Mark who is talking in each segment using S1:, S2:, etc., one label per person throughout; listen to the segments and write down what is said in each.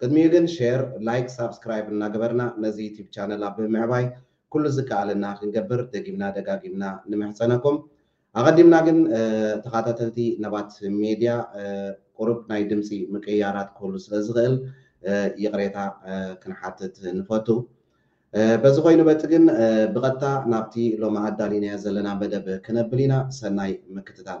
S1: ቅድሚኡ ግን ሼር ላይክ ሳብስክራይብ እናገበርና ነዚ ዩቲብ ቻነል ኣብ ምምዕባይ ኩሉ ዝከኣለና ክንገብር ደጊምና ደጋጊምና ንምሕጸነኩም። ኣቐዲምና ግን ተኻታተልቲ ነባት ሜድያ ቁሩብ ናይ ድምጺ ምቅይያራት ክህሉ ስለ ዝኽእል ይቕሬታ ክንሓትት ንፈቱ። በዚ ኮይኑ በቲ ግን ብቐጥታ ናብቲ ሎሚ ኣዳሊናዮ ዘለና መደብ ክነብል ኢና። ሰናይ ምክትታል።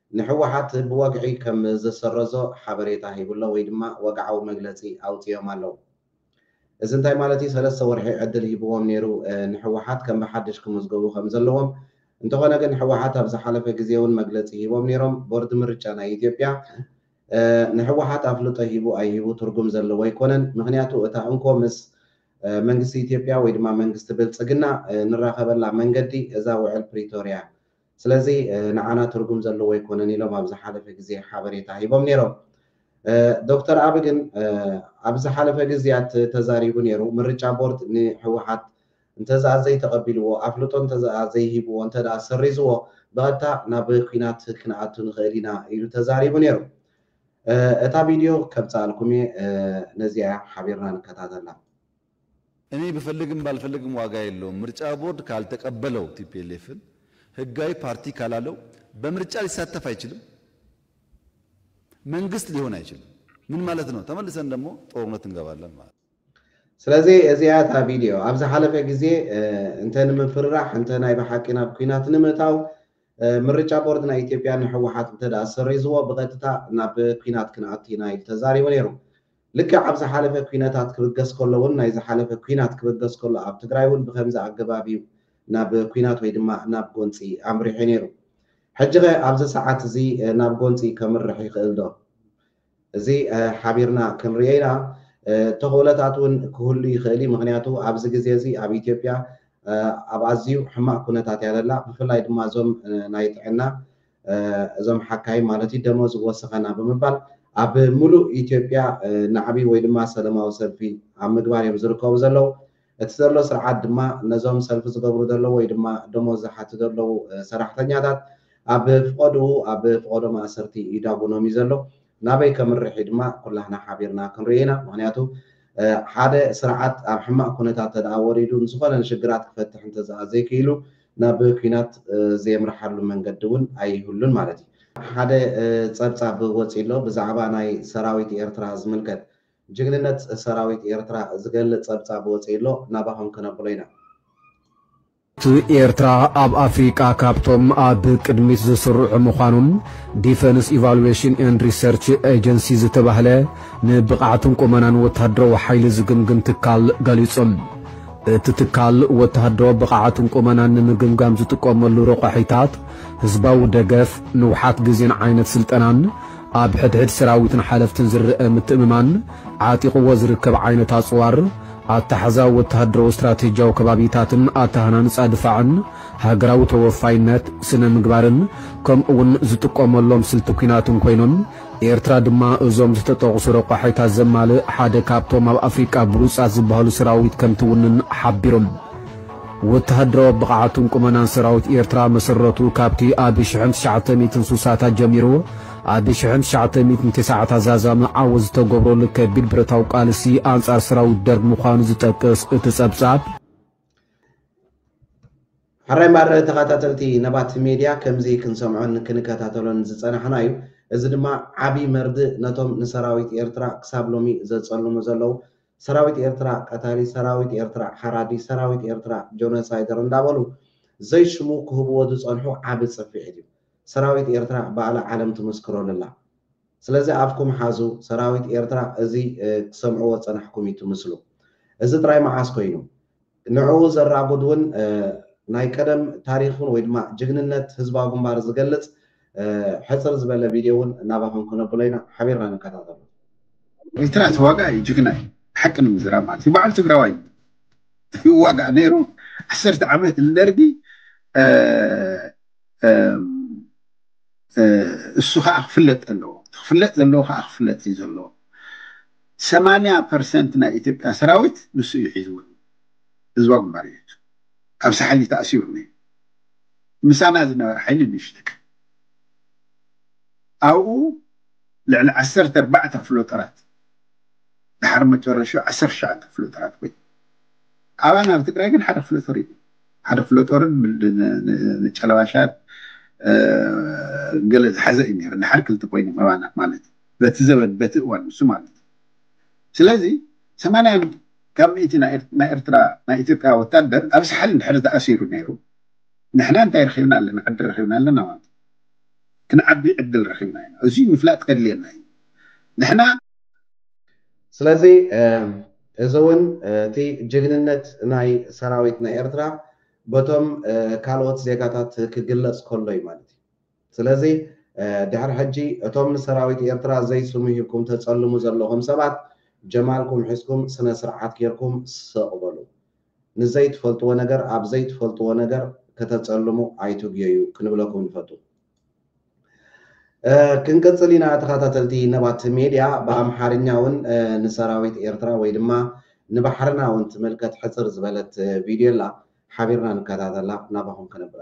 S1: ንህወሓት ብወግዒ ከም ዝሰረዞ ሓበሬታ ሂቡ'ሎ ወይ ድማ ወግዓዊ መግለጺ ኣውጺኦም ኣለዉ። እዚ እንታይ ማለት እዩ? ሰለስተ ወርሒ ዕድል ሂቡዎም ነይሩ ንህወሓት ከም ብሓድሽ ክምዝገቡ ከም ዘለዎም። እንተኾነ ግን ህወሓት ኣብ ዝሓለፈ ግዜ'ውን መግለጺ ሂቦም ነይሮም። ቦርድ ምርጫ ናይ ኢትዮጵያ ንህወሓት ኣፍልጦ ሂቡ ኣይሂቡ ትርጉም ዘለዎ ኣይኮነን። ምኽንያቱ እታ እንኮ ምስ መንግስቲ ኢትዮጵያ ወይ ድማ መንግስቲ ብልጽግና ንራኸበላ መንገዲ እዛ ውዕል ፕሪቶርያ እያ። ስለዚ ንዓና ትርጉም ዘለዎ ኣይኮነን ኢሎም ኣብ ዝሓለፈ ግዜ ሓበሬታ ሂቦም ነይሮም። ዶክተር ኣቢ ግን ኣብ ዝሓለፈ ግዝያት ተዛሪቡ ነይሩ። ምርጫ ቦርድ ንህወሓት እንተዝኣ ዘይተቐቢልዎ፣ ኣፍልጦ እንተዝኣ ዘይሂብዎ፣ እንተድኣ ሰሪዝዎ ብቐጥታ ናብ ኲናት ክንኣቱ ንኽእል ኢና ኢሉ ተዛሪቡ ነይሩ። እታ ቪድዮ ከምጽኣልኩም እየ፣ ነዚኣ እያ ሓቢርና ንከታተላ።
S2: እኔ ብፈልግም ባልፈልግም ዋጋ የለውም ምርጫ ቦርድ ካልተቀበለው ቲፒኤልኤፍን ህጋዊ ፓርቲ ካላለው በምርጫ ሊሳተፍ አይችልም መንግስት ሊሆን አይችልም ምን ማለት ነው ተመልሰን ደግሞ ጦርነት እንገባለን ማለት ስለዚ እዚኣ እታ
S1: ቪድዮ ኣብ ዝሓለፈ ግዜ እንተ ንምፍርራሕ እንተ ናይ ብሓቂ ናብ ኩናት ንምእታው ምርጫ ቦርድ ናይ ኢትዮጵያ ንሕወሓት እንተ ሰሪዝዎ ብቐጥታ ናብ ኩናት ክንኣቱ ኢና ኢሉ ተዛሪቡ ነይሩ ልክዕ ኣብ ዝሓለፈ ኲነታት ክብገስ ከሎ ውን ናይ ዝሓለፈ ኲናት ክብገስ ከሎ ኣብ ትግራይ ውን ብኸምዚ ኣገባብ ዩ ናብ ኲናት ወይ ድማ ናብ ጎንፂ ኣምሪሑ ነይሩ። ሕጂኸ ኣብዚ ሰዓት እዚ ናብ ጎንፂ ከምርሕ ይኽእል ዶ? እዚ ሓቢርና ክንሪኦ ኢና። ተኽእሎታት ውን ክህሉ ይኽእል ዩ። ምኽንያቱ ኣብዚ ግዜ እዚ ኣብ ኢትዮጵያ ኣብ ኣዝዩ ሕማቕ ኩነታት እያ ዘላ። ብፍላይ ድማ እዞም ናይ ጥዕና እዞም ሓካይም ማለት እዩ ደሞዝ ወሰኸና ብምባል ኣብ ሙሉእ ኢትዮጵያ ናዕቢ ወይ ድማ ሰለማዊ ሰልፊ ኣብ ምግባር እዮም ዝርከቡ ዘለው። እቲ ዘሎ ስርዓት ድማ ነዞም ሰልፊ ዝገብሩ ዘለው ወይ ድማ ደሞዝ ዝሓቱ ዘለው ሰራሕተኛታት ኣብ ፍቆድኡ ኣብ ፍቆዶ ማእሰርቲ ይዳጉኖም እዩ ዘሎ። ናበይ ከምርሕ እዩ ድማ ኩላህና ሓቢርና ክንሪኦ ኢና። ምክንያቱ ሓደ ስርዓት ኣብ ሕማቅ ኩነታት እንተድኣ ወሪዱ ንዝኮነ ንሽግራት ክፈትሕ እንተዝኣ ዘይክኢሉ፣ ናብ ኲናት ዜምርሓሉ መንገዲ እውን ኣይህሉን ማለት እዩ። ሓደ ጸብጻብ ወጺኡ ኣሎ ብዛዕባ ናይ ሰራዊት ኤርትራ ዝምልከት። ጅግንነት ሰራዊት ኤርትራ ዝገልጽ ጸብጻብ ወጺኡ ኣሎ ናባኹም ክነብሎ ኢና።
S3: ኤርትራ ኣብ ኣፍሪቃ ካብቶም ኣብ ቅድሚት ዝስርዑ ምዃኖም ዲፈንስ ኢቫሉዌሽን ኤንድ ሪሰርች ኤጀንሲ ዝተባህለ ንብቕዓትን ቁመናን ወተሃደራዊ ሓይሊ ዝግምግም ትካል ገሊጹ። እቲ ትካል ወተሃደራዊ ብቕዓትን ቁመናን ንምግምጋም ዝጥቀመሉ ረቋሒታት፣ ህዝባዊ ደገፍ፣ ንውሓት ግዜን ዓይነት ስልጠናን፣ ኣብ ሕድሕድ ሰራዊትን ሓለፍትን ዝረኣ ምትእምማን፣ ዓጢቕዎ ዝርከብ ዓይነት ኣጽዋር፣ ኣታሕዛ ወተሃደራዊ ስትራቴጂያዊ ከባቢታትን ኣተሃናንጻ ድፋዕን፣ ሃገራዊ ተወፋይነት፣ ስነ-ምግባርን ከምኡ'ውን ዝጥቀመሎም ስልቲ ኲናትን ኮይኖም ኤርትራ ድማ እዞም ዝተጠቕሱ ረቋሒታት ዘማልእ ሓደ ካብቶም ኣብ ኣፍሪቃ ብሉጻት ዝበሃሉ ሰራዊት ከምትውንን ሓቢሮም። ወተሃደራዊ ብቕዓትን ቁመናን ሰራዊት ኤርትራ መሰረቱ ካብቲ ኣብ ሽሕን ትሽዓተ ሚእትን ስሳታት ጀሚሩ ኣብ ሽሕን ትሽዓተ ሚእትን ተሰዓታት ዛዛሚ ዓወት ዝተገብረሉ ከቢድ ብረታዊ ቃልሲ ኣንጻር ሰራዊት ደርግ ምዃኑ ዝጠቅስ እቲ ጸብጻብ፣
S1: ሕራይ ማረ ተኻታተልቲ ነባት ሜድያ ከምዚ ክንሰምዖን ክንከታተሎን ዝጸናሕና እዩ እዚ ድማ ዓቢ መርድእ ነቶም ንሰራዊት ኤርትራ ክሳብ ሎሚ ዘጸልሙ ዘለዉ ሰራዊት ኤርትራ ቀታሊ ሰራዊት ኤርትራ ሓራዲ ሰራዊት ኤርትራ ጆነሳይደር እንዳበሉ ዘይ ሽሙ ክህብዎ ዝጸንሑ ዓቢ ጽፊዒት እዩ ሰራዊት ኤርትራ ባእላ ዓለም ትምስክረሉ ኣላ ስለዚ ኣፍኩም ሓዙ ሰራዊት ኤርትራ እዚ ክሰምዕዎ ዝጸናሕኩም እዩ ትምስሉ እዚ ጥራይ መዓስ ኮይኑ ንዕኡ ዘራጉድ እውን ናይ ቀደም ታሪኽን ወይ ድማ ጅግንነት ህዝባዊ ግንባር ዝገልፅ ሕፅር ዝበለ ቪድዮ እውን ናባኹም ክነብሎ ኢና። ሓቢርና ንከታተሎ። ኤርትራ
S4: ተዋጋኢ እዩ ጅግና እዩ ሓቂ ንምዝራብ ማለት እዩ ባዓል ትግራዋይ እዩ ይዋጋእ ነይሩ ዓሰርተ ዓመት ንደርጊ እሱ ካዓ ክፍለጥ ኣለዎ እቲ ክፍለጥ ዘለዎ ካዓ ክፍለጥ እዩ ዘለዎ። ሰማንያ ፐርሰንት ናይ ኢትዮጵያ ሰራዊት ንሱ እዩ ሒዝዎ ዘሎ ህዝባዊ ግንባር እዩ ሒዙ ኣብ ሳሕሊ ተኣሲሩ ነይሩ ምሳና ዝነበረ ሓይሊ ንእሽተይ ኣብኡ ልዕሊ ዓሰርተ ኣርባዕተ ክፍለ ጦራት ድሓር መጨረሽኡ ዓሰርተ ትሽዓተ ክፍለ ጦራት ኮይኑ ኣባና ኣብ ትግራይ ግን ሓደ ክፍለ ጦር እዩ ሓደ ክፍለ ጦርን ንጨለባሻት ገለ ዝሓዘ እዩ ነይሩ ድሓር ክልተ ኮይኖም ኣባና ማለት እዩ በቲ ዘበን በቲ እዋን ንሱ ማለት እዩ ስለዚ ሰማንያ ካብ ሚእቲ ናይ ኤርትራ ናይ ኢትዮጵያ ወታደር ኣብ ሳሕል እንድሕር ተኣሲሩ ነይሩ ንሕና እንታይ ረኺብና ኣለና ዕድል ረኺብና ኣለና ማለት እዩ ክንዓቢ ዕድል ረኺብና ኢና እዙይ ምፍላጥ ከድልየና እዩ ንሕና
S1: ስለዚ እዚ እውን እቲ ጅግንነት ናይ ሰራዊት ናይ ኤርትራ በቶም ካልኦት ዜጋታት ክግለጽ ከሎ እዩ ማለት እዩ። ስለዚ ድሕሪ ሕጂ እቶም ንሰራዊት ኤርትራ ዘይ ስሙ ሂብኩም ተጸልሙ ዘለኹም ሰባት ጀማልኩም ሒዝኩም ስነ ስርዓት ጌርኩም ስቅ በሉ ንዘይ ትፈልጥዎ ነገር ኣብ ዘይ ትፈልጥዎ ነገር ከተጸልሙ ኣይትጉየዩ ክንብለኩም ንፈቱ። ክንቅጽል ኢና ተኸታተልቲ ነባት ሜድያ ብኣምሓርኛ ውን ንሰራዊት ኤርትራ ወይ ድማ ንባሕርና ውን ትምልከት ሕጽር ዝበለት ቪድዮ ኣላ ሓቢርና ንከታተላ ናባኹም ከነብላ።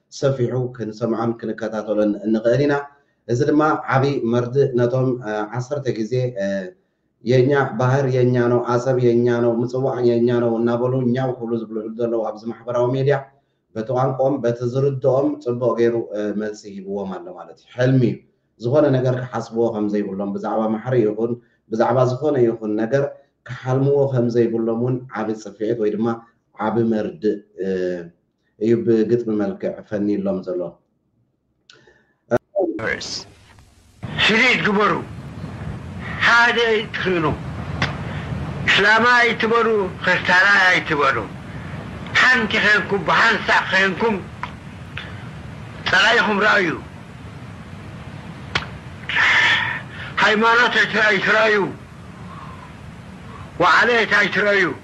S1: ሰፊሑ ክንሰምዖን ክንከታተሎን እንኽእል ኢና። እዚ ድማ ዓቢ መርድእ ነቶም ዓሰርተ ግዜ የኛ ባህር የኛ ነው ኣሰብ የኛ ነው ምጽዋዕ የኛ ነው እናበሉ ኛው ክብሉ ዝብልዕሉ ዘለዉ ኣብዚ ማሕበራዊ ሜድያ በቲ ቋንቆኦም በቲ ዝርድኦም ጽቡቕ ገይሩ መልሲ ሂብዎም ኣሎ ማለት እዩ። ሕልሚ እዩ። ዝኾነ ነገር ክሓስብዎ ከም ዘይብሎም ብዛዕባ ማሕሪ ይኹን ብዛዕባ ዝኾነ ይኹን ነገር ክሓልምዎ ከም ዘይብሎም እውን ዓቢ ጽፍዒት ወይ ድማ ዓቢ መርድእ እዩ ብግጥሚ መልክዕ ፈንዩሎም ዘሎ። ርዕስ
S5: ፍሊት ግበሩ ሓደ ኣይትክእሉ እስላማይ ኣይትበሉ ክርስታናይ ኣይትበሉ ሓንቲ ከንኩም ብሃንሳእ ከንኩም ጸላኢኩም ረኣዩ ሃይማኖት ኣይትረኣዩ ዋዓለት ኣይትረኣዩ።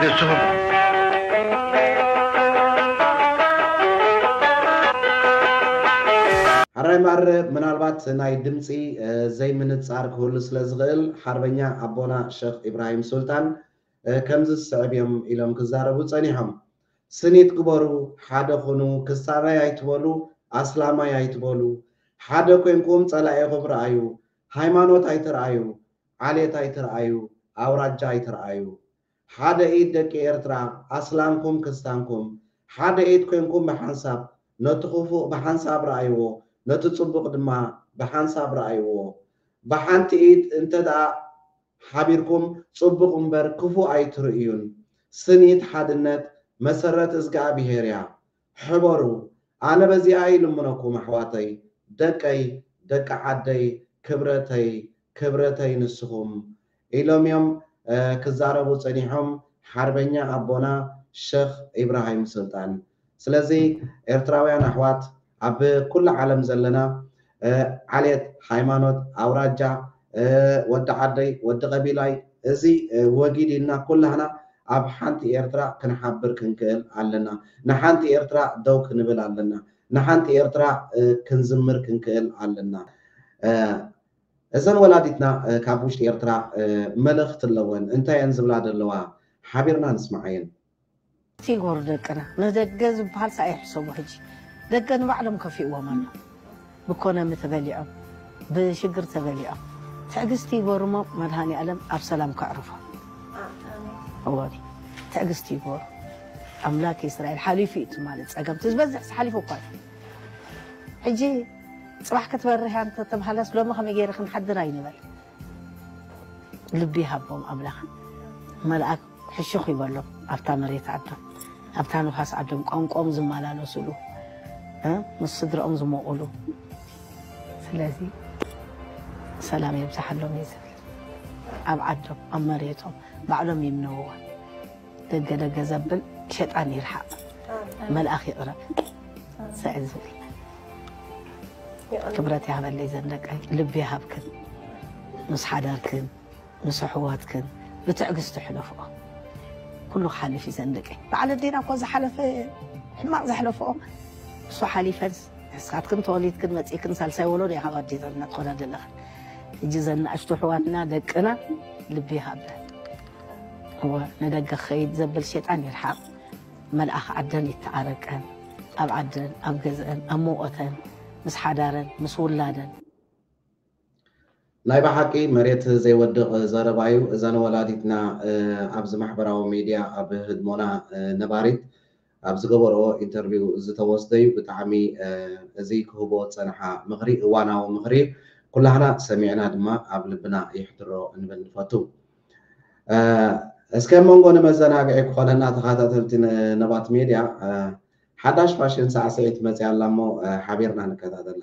S5: ንስኹም
S1: ሐራይ ማረ ምናልባት ናይ ድምጺ ዘይ ምንጻር ክህሉ ስለ ዝኽእል ሐርበኛ ኣቦና ሸኽ ኢብራሂም ሱልጣን ከምዚ ዝስዕብ እዮም ኢሎም ክዛረቡ ጸኒሖም ስኒት ግበሩ ሐደ ኹኑ ክሳባይ ኣይትበሉ ኣስላማይ ኣይትበሉ ሐደ ኮንኩም ጸላኢኹም ርኣዩ ሃይማኖት ኣይትርኣዩ ዓሌት ኣይትርኣዩ ኣውራጃ ኣይትርኣዩ ሓደ ኢድ ደቂ ኤርትራ ኣስላምኩም ክስታንኩም ሓደ ኢድ ኮንኩም ብሓንሳብ ነቲ ኩፉእ ብሓንሳብ ርኣይዎ ነቲ ጽቡቅ ድማ ብሓንሳብ ርኣይዎ ብሓንቲ ኢድ እንተ ሓቢርኩም ጽቡቅ እምበር ክፉእ ኣይትርእዩን ስኒት ሓድነት መሰረት እዝግኣብሄር እያ ሕበሩ ኣነ በዚኣ ይልምነኩም ኣሕዋተይ ደቀይ ደቂ ዓደይ ክብረተይ ክብረተይ ንስኩም ኢሎም እዮም ክዛረቡ ፀኒሖም ሓርበኛ ኣቦና ሸክ ኢብራሂም ስልጣን ስለዚ ኤርትራውያን ኣሕዋት ኣብ ኩሉ ዓለም ዘለና ዓሌት፣ ሃይማኖት፣ ኣውራጃ፣ ወዲ ዓደይ፣ ወዲ ቀቢላይ፣ እዚ ወጊድ ኢልና ኩላህና ኣብ ሓንቲ ኤርትራ ክንሓብር ክንክእል ኣለና። ንሓንቲ ኤርትራ ደው ክንብል ኣለና። ንሓንቲ ኤርትራ ክንዝምር ክንክእል ኣለና። እዘን ወላዲትና ካብ ውሽጢ ኤርትራ መልእኽቲ ኣለወን። እንታይ እየን ዝብላ ዘለዋ? ሓቢርና ንስምዓየን። ቲጎር
S6: ደቅና ንደገ ዝብሃል ሳኣይ ሕሰቡ ሕጂ ደገ ንባዕሎም ከፊእዎም ኣሎ ብኮነሚ ተበሊዖም ብሽግር ተበሊዖም ትዕግስቲ ይጎርሞ መድሃኒኣለም ኣብ ሰላም ከዕርፎ እዎኒ ትዕግስቲ ይጎሩ ኣምላክ እስራኤል ሓሊፉ እዩ ትማሊ ጸገም ትዝበዝሕ ሓሊፉ እኳ እዩ ሕጂ ጽባሕ ክትበርህ እያ እንተተባህለስ ሎሚ ከመይ ገይረ ክንሓድር ኣይንበል ልቢ ይሃቦም ኣምላክ መልኣክ ሕሹኽ ይበሎም ኣብታ መሬት ዓዶም ኣብታ ንፋስ ዓዶም ቋንቆኦም ዝመላለሱሉ ምስ ስድርኦም ዝሞቑሉ ስለዚ ሰላም የብዝሓሎም እየ ዝብል ኣብ ዓዶም ኣብ መሬቶም ባዕሎም ይምነውዋ ደገ ደገ ዘብል ሸጣን ይርሓቕ መልኣኽ ይቕረብ ስዕል ዝብል ክብረት ይሃበለይ ዘንደቀይ ልቢ ይሃብክን ምስ ሓደርክን ምስ ኣሕዋትክን ብትዕግስቲ ሕለፍኦ ኩሉ ክሓልፍ እዩ ዘንደቂ በዓል ኣዴና እኮ ዝሓለፈ ሕማቅ ዘሕለፍኦ ንሱ ሓሊፈንስ ንስኻትክን ተወሊድክን መፂእክን ሳልሳይ ወለዶ ካብ ኣዴታትና ትኾና ዘለኽን እጂ ዘን ንኣሽቱ ኣሕዋትና ደቅና ልቢ ይሃብለን እወ ንደገ ክኸይድ ዘብል ሸጣን ይርሓቅ መልኣኽ ዓደን ይተዓረቀን ኣብ ዓደን ኣብ ገዝአን ኣብ መውቀተን ምስ ሓዳረን ምስ ውላደን
S1: ናይ በሓቂ መሬት ዘይወድቅ ዘረባ ዩ እዘን ወላዲትና ኣብዚ ማሕበራዊ ሚድያ ኣብ ህድሞና ነባሪት ኣብ ዝገበርኦ ኢንተርቪው ዝተወስደ ዩ ብጣዕሚ እዚ ክህብኦ ዝጸንሓ ምኽሪ እዋናዊ ምኽሪ ዩ ኩላህና ሰሚዕና ድማ ኣብ ልብና የሕድሮ እንብል ንፈቱ እስከ መንጎ ንመዘናግዒ ክኾነና ተኻታተልቲ ነባት ሜድያ ሓዳሽ ፋሽን ሳዕስዒት መጽያ ኣላ እሞ ሓቢርና ንከታተላ።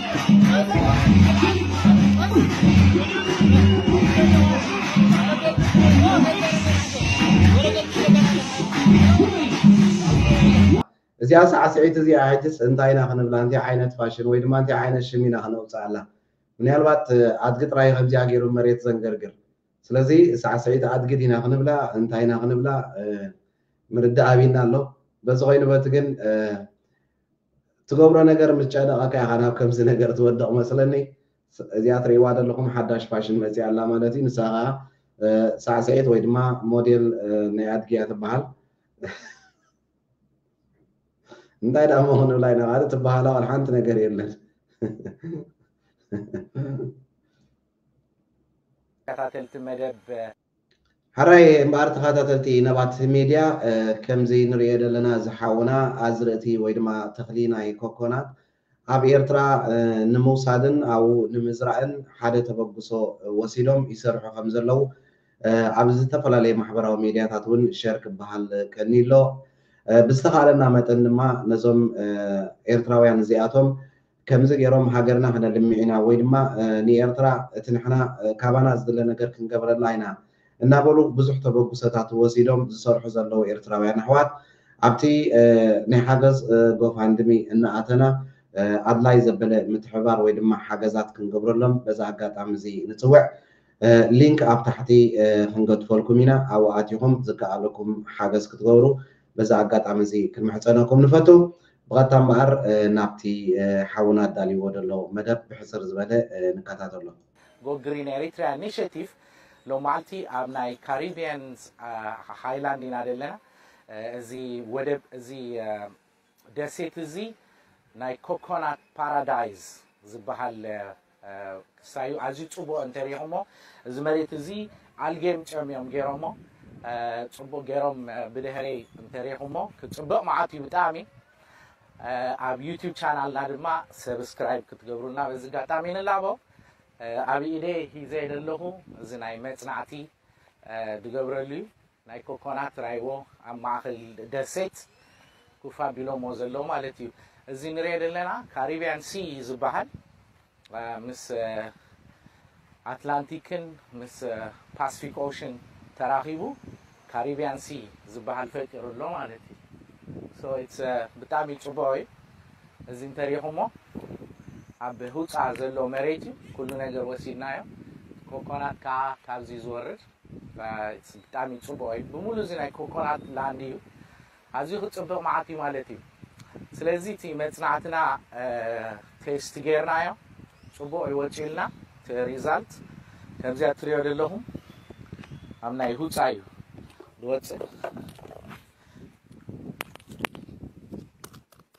S1: እዚኣ ሳዕስዒት እዚኣ ሕጅስ እንታይ ኢና ክንብላ እንታይ ዓይነት ፋሽን ወይ ድማ እንታይ ዓይነት ሽም ኢና ክነውፅኣላ ምናልባት ኣድጊ ጥራይ ከምዚኣ ገይሩ መሬት ዘንገርግር ስለዚ ሳዕስዒት ኣድጊ ዲና ክንብላ እንታይ ኢና ክንብላ ምርዳእ ኣቢና ኣሎ በዚ ኮይኑ በቲ ግን ትገብሮ ነገር ምስ ጨነቀካ ኢካ ናብ ከምዚ ነገር ትወድቅ መስለኒ እዚኣ ትሪእዋ ዘለኩም ሓዳሽ ፋሽን መጺኣ ኣላ ማለት እዩ ንሳ ከኣ ሳዕስዒት ወይ ድማ ሞዴል ናይ ኣድጊ እያ ትበሃል እንታይ ደኣ እሞ ክንብላ ኢና ካልእ ትበሃላ ዋላ ሓንቲ ነገር የለን ተኸታተልቲ መደብ ሕራይ እምበኣር ተኻታተልቲ ነባት ሜድያ ከምዚ ንርእዮ ደለና እዚ ሓውና ኣዝርእቲ ወይ ድማ ተኽሊ ናይ ኮኮናት ኣብ ኤርትራ ንምውሳድን ኣብኡ ንምዝራእን ሓደ ተበግሶ ወሲዶም ይሰርሑ ከም ዘለዉ ኣብ ዝተፈላለየ ማሕበራዊ ሜድያታት ውን ሸር ክበሃል ቀንዩ ኣሎ ብዝተኻእለና መጠን ድማ ነዞም ኤርትራውያን እዚኣቶም ከምዚ ጌሮም ሃገርና ክነልምዕ ኢና ወይ ድማ ንኤርትራ እቲ ንሕና ካባና ዝድለ ነገር ክንገብረላ ኢና እናበሉ ብዙሕ ተበጉሰታት ወሲዶም ዝሰርሑ ዘለዉ ኤርትራውያን ኣሕዋት ኣብቲ ናይ ሓገዝ ጎፋንድሚ እናኣተና ኣድላይ ዘበለ ምትሕብባር ወይ ድማ ሓገዛት ክንገብረሎም በዚ ኣጋጣሚ እዚ ንጽውዕ። ሊንክ ኣብ ታሕቲ ክንገድፈልኩም ኢና ኣብኡ ኣቲኹም ዝከኣለኩም ሓገዝ ክትገብሩ በዚ ኣጋጣሚ እዚ ክንምሕጸነኩም ንፈቱ። ብቐጥታ እምበኣር ናብቲ ሓውና ኣዳልይዎ ዘሎ መደብ ብሕጽር ዝበለ ንከታተሎ። Go Green
S7: Eritrea Initiative ሎማዕልቲ ኣብ ናይ ካሪቢያንስ ሃይላንድ ኢና ዘለና እዚ ወደብ እዚ ደሴት እዚ ናይ ኮኮናት ፓራዳይዝ ዝበሃል ክሳዩ ኣዝዩ ጽቡቕ እንተ ሪኢኹሞ እዚ መሬት እዚ ኣልጌም ጨም እዮም ጌሮሞ ጽቡቕ ጌሮም ብድህረይ እንተ ሪኢኹሞ ክጽብቕ መዓት እዩ ብጣዕሚ ኣብ ዩቲዩብ ቻናልና ድማ ሰብስክራይብ ክትገብሩልና በዚ ኣጋጣሚ ንላቦ ኣብ ኢደይ ሂዘ ዘለኹ እዚ ናይ መጽናዕቲ ድገብረሉ እዩ ናይ ኮኮናት ራይዎ ኣብ ማእከል ደሴት ኩፍ ኣቢሎምዎ ዘለዉ ማለት እዩ። እዚ ንሪኦ ዘለና ካሪብያን ሲ እዩ ዝበሃል። ምስ ኣትላንቲክን ምስ ፓስፊክ ኦሽን ተራኺቡ ካሪብያን ሲ ዝበሃል ፈጢሩ ኣሎ ማለት እዩ። ሶ ኢትስ ብጣሚ ጽቡቕ እዩ። እዚ እንተ ሪኢኹሞ ኣብ ሁጻ ዘሎ መሬት እዩ ኩሉ ነገር ወሲድናዮ። ኮኮናት ከኣ ካብዚ ዝወርድ። ብጣሚ ጽቡቅ እዩ ብሙሉ እዚ ናይ ኮኮናት ላንድ እዩ ኣዝዩ ክጽብቅ መዓት እዩ ማለት እዩ ስለዚ እቲ መጽናዕትና ቴስት ጌርናዮ ጽቡቅ እዩ ወጺኡልና እቲ ሪዛልት ከምዚ ኣትሪዮ ዘለኹም ኣብ ናይ ሁጻ እዩ ዝወጽእ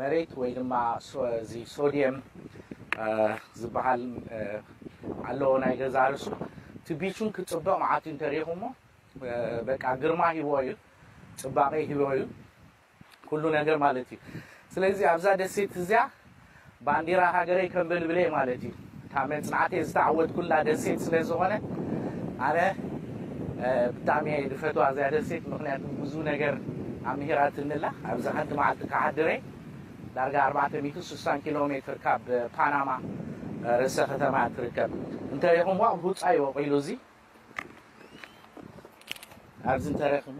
S7: መሬት ወይ ድማ እዚ ሶድየም ዝበሃል ኣለዎ ናይ ገዛ ርሱ እቲ ቢቹን ክፅብቕ መዓት እዩ እንተሪኢኹሞ በቃ ግርማ ሂቦ እዩ ፅባቐ ሂቦ እዩ ኩሉ ነገር ማለት እዩ ስለዚ ኣብዛ ደሴት እዚኣ ባንዲራ ሃገረይ ከንበልብል'የ ማለት'ዩ። እታ መጽናዕተይ ዝተዓወትኩላ ደሴት ስለ ዝኾነ ኣነ ብጣዕሚ'የ ዝፈትዋ እዚኣ ደሴት ምኽንያቱ ብዙ ነገር ኣምሂራትኒ'ላ። ኣብዚ ሓንቲ መዓልቲ ክሓድር'የ ዳርጋ ኣርባዕተ ሚእትን ሱሳን ኪሎ ሜትር ካብ ፓናማ ርእሰ ከተማ'ያ ትርከብ። እንተሪእኹምዋ ቡጻ'ዩ ወቂሉ እዚ ኣብዚ እንተረኺቡ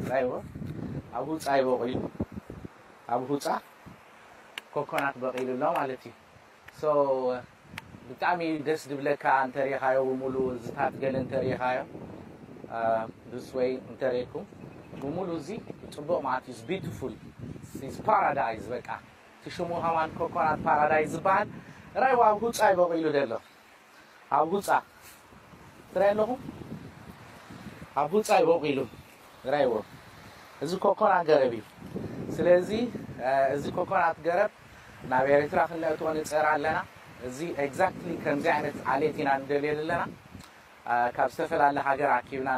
S7: ጻይቦ ኣብ ሁጻ እዩ በቂሉ ኣብ ሁጻ ኮኮናት በቂሉ ኣሎ ማለት እዩ ሶ ብጣዕሚ ደስ ድብለካ እንተሪኻዮ ብሙሉ እዚታት ገለ እንተሪኻዮ ዱስ ወይ እንተሪኩም ብሙሉ እዚ ጽቡቅ ማለት እዩ ቢዩቲፉል ኢዝ ፓራዳይዝ በቃ እቲ ሽሙ ከማን ኮኮናት ፓራዳይዝ ዝበሃል ራይዋ ኣብ ሁጻ እዩ በቂሉ ዘሎ ኣብ ሁጻ ትራይ ኣለኹ ኣብ ሁጻ እዩ ቦቂሉ ራይዎ እዚ ኮኮና ገረብ እዩ ስለዚ እዚ ኮኮናት ገረብ ናብ ኤሪትራ ክነእትዎ ንጽዕር ኣለና እዚ ኤግዛክትሊ ከምዚ ዓይነት ዓሌት ኢና ንደልዮ ዘለና ካብ ዝተፈላለ ሃገር ኣኪብና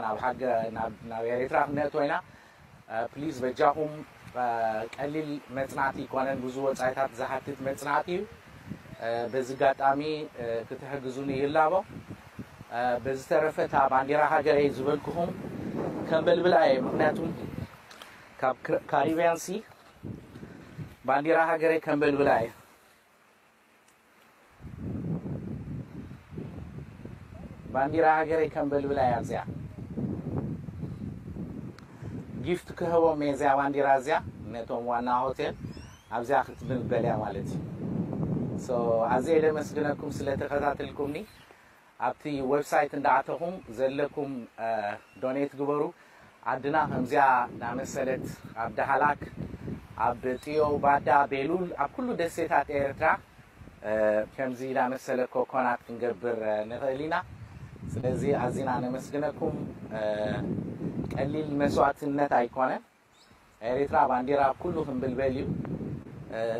S7: ናብ ኤሪትራ ክነእትዎ ኢና ፕሊዝ በጃኹም ቀሊል መጽናዕቲ ኣይኮነን ብዙ ወጻኢታት ዝሓትት መጽናዕቲ እዩ በዚ ጋጣሚ ክትሕግዙኒ ይላቦ በዝተረፈ እታ ባንዴራ ሃገረይ ዝበልኩኹም ከንበልብላ እየ ምክንያቱም ካብ ካሪብያን ሲ ባንዴራ ሃገረይ ከንበልብላ እየ ባንዲራ ሃገረይ ከንበልብላ እያ እዚኣ። ጊፍት ክህቦም እየ እዚኣ ባንዲራ እዚኣ ነቶም ዋና ሆቴል ኣብዚኣ ክትብንበል እያ ማለት እዩ። ኣዝየ ደመስግነኩም ስለተኸታተልኩምኒ። ኣብቲ ወብሳይት እንዳኣተኹም ዘለኩም ዶኔት ግበሩ ዓድና ከምዚኣ ዳመሰለት ኣብ ዳህላክ ኣብ ጥዮ ባዳ ቤሉል ኣብ ኩሉ ደሴታት ኤርትራ ከምዚ ዳመሰለ ኮኮናት ክንገብር ንኽእል ኢና ስለዚ ኣዚና ነመስግነኩም ቀሊል መስዋእትነት ኣይኮነን ኤሪትራ ባንዲራ ኣብ ኩሉ ክንብልበል እዩ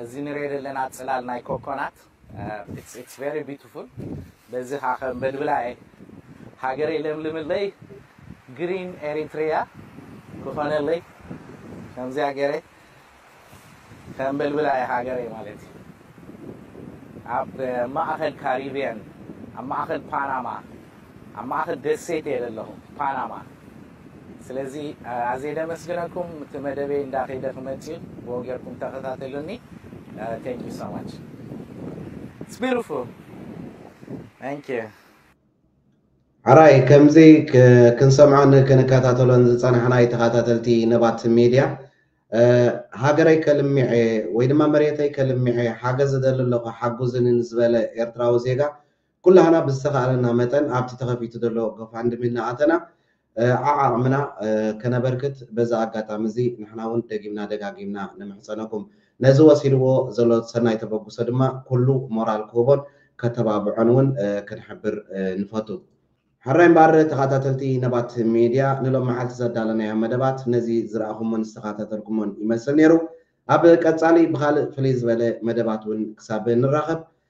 S7: እዚ ንሪኦ ዘለና ጽላል ናይ ኮኮናት ኢትስ ኢትስ ቨሪ ቢቱፉል በዚ ከኣ ከንበልብላ እየ ሃገረይ ለምልምለይ ግሪን ኤሪትርያ ክኾነለይ ከምዚኣ ጌረ ከንበልብላ እየ ሃገረይ ማለት እዩ ኣብ ማእከል ካሪብየን ኣብ ማእከል ፓናማ ኣብ ማእከል ደሴት እየ ለለኹ ፓናማ ስለዚ ኣዜ ደመስግነኩም እቲ መደበይ እንዳ ከይደ ክመጽእ ብኡ ገርኩም ተከታተሉኒ thank you so much it's beautiful thank you።
S1: ሐራይ ከምዚ ክንሰምዖን ክንከታተሎን ዝጸናሕናይ ተኻታተልቲ ነባት ሜድያ ሃገረይ ከልሚዔ ወይ ድማ መሬተይ ከልሚዔ ሓገዝ እደሊ ኣለኹ ሓጉዙኒ ንዝበለ ኤርትራዊ ዜጋ ኩላህና ብዝተኻእለና መጠን ኣብቲ ተኸፊቱ ዘሎ ጎፋንድሚ እናኣተና ዓዓቕምና ከነበርክት በዚ ኣጋጣሚ እዚ ንሕና እውን ደጊምና ደጋጊምና ንምሕጸነኩም። ነዚ ወሲድዎ ዘሎ ሰናይ ተበግሶ ድማ ኩሉ ሞራል ክህቦን ከተባብዖን እውን ክንሕብር ንፈቱ። ሕራይ እምበኣር ተኻታተልቲ ነባት ሚድያ ንሎም መዓልቲ ዘዳለናዮም መደባት ነዚ ዝረኣኹሞን ዝተኻታተልኩሞን ይመስል ነይሩ። ኣብ ቀጻሊ ብኻልእ ፍልይ ዝበለ መደባት እውን ክሳብ ንራኸብ